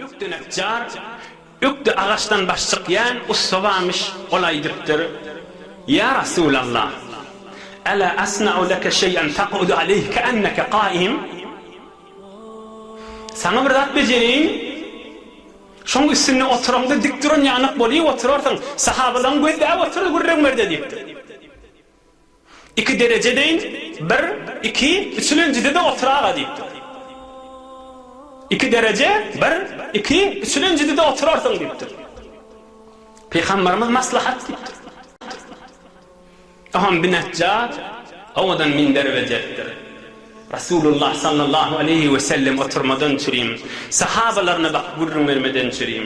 Ökde neçjar, ökde agaçdan baş çykýan ussa barmyş, ol aýdypdyr, Ýa Rasulallah! Ala asna'u leke şeý'en tak'udu aleýhi ke'enneke ka'im? Saňa bir zat bejereýin, şoň üstünde oturaňda dik duran ýanak bolup oturarsyň, sahabalaryň gözläp oturdy gürrüň ber-de diýipdir. Iki dereje deýin, bir, iki, üçülenjide-de otur-aga diýipdir. Iki dereje, bir, iki, üçülenjide-de oturarsyň diýipdir. Pygamberimiz maslahat diýipdir. Oňam binejjat owadan minder berjekdir. Resulullah sallallahu aleýhi wesellem oturmadan çürim, sahabalaryna bakyp gürrüň bermeden çürim.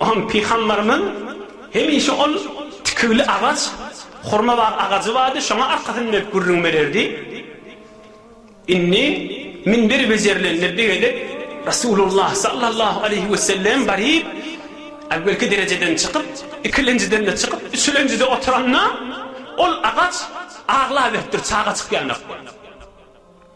Oňa pygamberimiz hemişe ol tikiwli agaç, hurma bar agajy bardy, şoňa arkasyn berip gürrüň bererdi. Indi minber bejerilende bir gezek Resulullah sallallahu aleýhi wesellem baryp, äwwelki derejeden çykyp, ikilenjiden-de çykyp, üçülenjide oturanda, ol agaç aglaberipdir, çaga çykýanok bolup.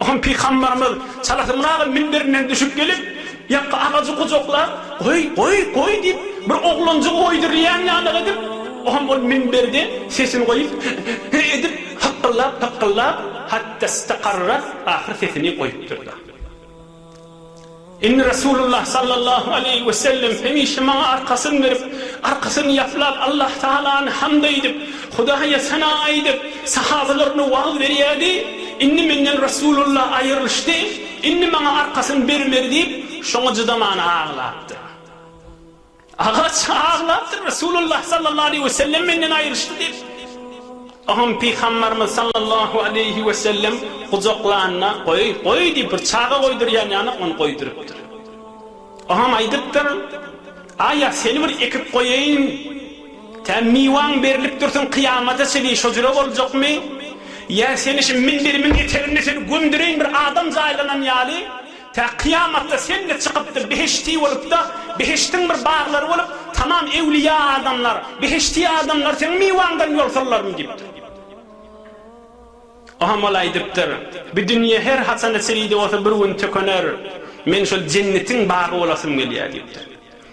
Ahun pygambarymyz çalasyndaky minberinden düşüp gelip, ýakga agajy gujaklap, Goý, goý, goý diýip, bir oglanjygy goýdurylýan ýalyk edip, ahun ol minberde sesini goýup, He-he-he edip, hykgyllap-hykgyllap, hatta staqarrap, ahyr sesini goýupdyr-da. Indi Resulullah sallallahu aleýhi we sellem hemişe maňa arkasyn berip, arkasyn ýaplap Allah Tagalany hamd aýdyp, Hudaýa sana aýdyp, sahabalaryna wagyz berýärdi, indi menden Resulullah aýrylyşdy, indi maňa arkasyn bermedi diýip, şoňa jydaman aglapdyr. Agaç aglapdyr, Resulullah sallallahu aleýhi we sellem menden aýryşdy diýip. Soňam Pygamberimiz sallallahu aleýhi we sellem gujaklanda, goý, goý diýip, bir çaga goýdurýan ýaly ony goýdurypdyr. Soňam aýdypdyr, Aýa, seni bir ekip goýaýyn, tä miwaň berlip dursun kyýamata çenli şo jüre boljakmy? Ýa seni şu minberimiň eteginde seni gömdüreýin bir adam jaýlanan ýaly? Tä kyýamatda sen-de çykypdyr behişdi bolup-da, behişdiň bir baglary bolup, tamam ewliýa adamlar, behişdi adamlar seň miwaňdan ýol sallaryn diýipdir. O hem ol aýdypdyr, Bu dünýe her haçan içi-de bolsa bir gün tükener, men şol jennetiň bagy bolasym gelýär diýipdir.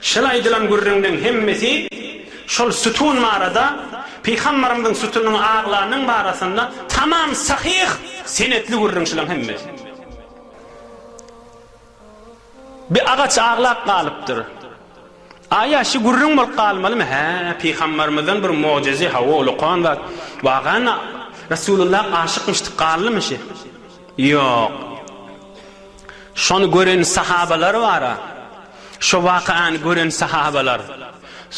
Şol aýdylan gürrüňleň hemmesi şol sütun barada, Pygamberimiziň sütunyň aglanyň barasynda tamam sahyh senetli gürrüň şulaň hemmesi. Bi agaç aglap galypdyr. Aýa şi gürrüň bolup galmalymy? Hä, Pygamberimizden bir mugjyzy, hawa ol okan zat. Wagana Resulullah aşykmyşdy, gallymy şi? Ýok. Şony gören sahabalar bar-a. Şo wakyany gören sahabalar,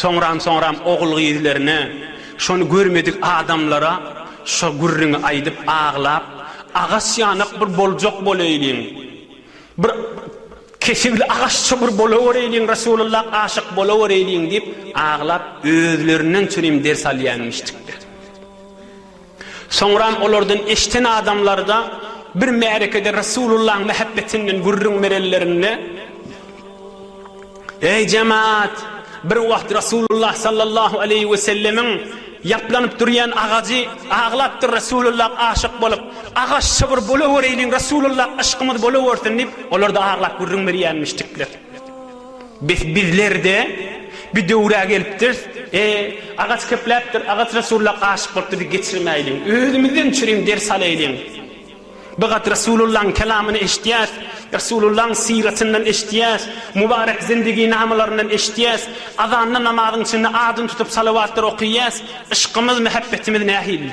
soňram-soňram ogul-gyzlaryna, şony görmedik adamlara şo gürrüňi aýdyp aglap, agaç ýanak bir boljak bolaýlyň, bir kesigli agaçça bir bolawereýliň, Resulullah aşyk bolawereýliň diýip aglap, özlerinden çürim ders alýanmyşdykda. Soňram olardan eşden adamlarda bir märekede Resulullahyň mähebbetinden gürrüň berenlerinde, Eý, jemaat! Bir wagt Resulullah sallallahu aleýhi wesellemiň ýaplanyp durýan agajy aglapdyr, Resulullah aşyk bolup, agaç şybyr bolawereýliň, Resulullah yşkymyz bolawersin diýip, olarda aglap gürrüň berýänmişdikler. Bes bizler-de bir döwre gelipdiris, e, agaç kepläpdir, agaç Resulullah aşyk bolup bizi geçirmäýliň, özümizden çürim ders alaýlyň. Bir gat Resulullahyň kelamyny eşitýäs, Resulullahyň syratyndan eşitýäs, mubarek zindigi-namalaryndan eşitýäs, azanda namazyň içinde adyny tutup salawatlar okaýas, yşkymyz, mähebbetimiz nähili?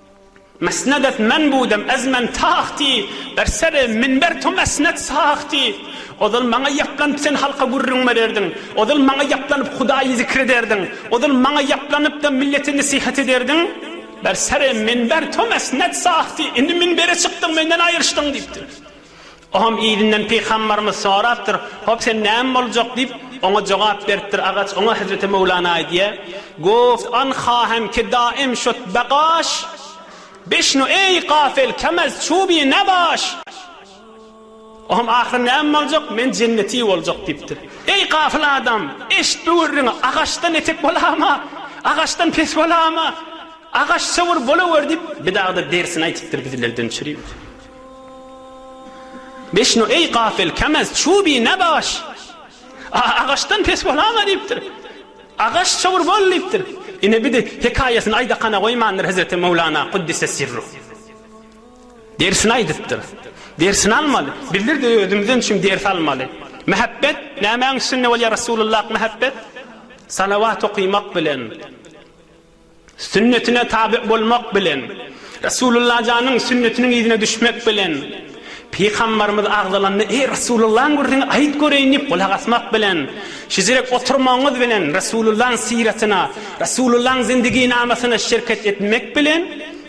Mesnedet men budem ez men tahti ber sere minber to mesnet sahti Ozal maňa ýaplanyp sen halka gürrüň bererdiň Ozal maňa ýaplanyp Hudaýy zikr ederdiň Ozal maňa ýaplanypda millete nesihat ederdiň Ber sere minber to mesnet sahti Indi minbere çykdyň menden aýryşdyň diýipdir. Oňam yzyndan pygambarymyz sorapdyr, Hop, sen näme boljak? diýip, oňa jogap beripdir. Agaç oňa Hezreti Möwlana aýdýar, Goft an hahem ke daim şot bagaş, Bişnu eý gafil kem ez çubi nebaş! Oňam ahyry näme boljak? Men jenneti boljak diýipdir. Eý gafil adam, eşit bu gürrüňi, agaçdan etek bolama, agaçdan pes bolama, agaç çowur bolawer diýip, bidagda dersini aýtypdyr, bizlerden çüri. Beşno eý gafil kemez çubi ne baş a agaçdan pes bolama diýipdir. Agaç çowur bol diýipdir. Ine bidi hekaýasyny aýdakana goýmandyr hezreti Möwlana Kuddise sirruh. Dersini aýdypdyr. Dersini almaly. Bizler-de özümizden üçin ders almaly. Mähebbet nämäň üstünde bolýar Resulullah mähebbet? Salawat okymak bilen. Sünnetine tabe bolmak bilen, Resulullah janyň sünnetiniň yzyna düşmek bilen, Pygambarymyz agzalanda, Eý, Resulullahyň gürrüňi aýt göreýin diýip gulak asmak bilen, şizirek oturmagyňyz bilen Resulullahyň syratyna, Resulullahyň zindigynamasyna şirket etmek bilen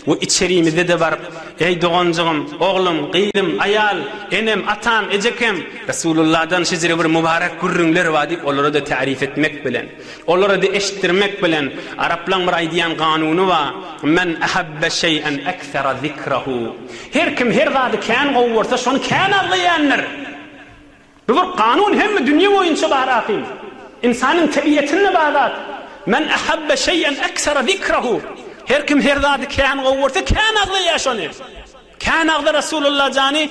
we içerimizde-de baryp, Eý, doganjygym, oglum, gyzym, aýal, enem, atam, ejekem, Resulullahdan şizire bir mübarek gürrüňler bar diýip olara-da täriýf etmek bilen. Olara di eşitdirmek bilen, araplaň bir aýdýan ganuny ba, Men ahabbe şeý'en ekthera zikrehu. Her kim her zady kän gowy görse, şony kän agzaýandyr. Bu bir ganun hemme dünýe boýunça bar ahyn. Ynsanyň tebiýetinde bar zat. Men ahabbe şeý'en ekthera zikrehu. Her kim her zady kän gowy görse, kän agzaýýar şony. Kän agza Resulullah jany.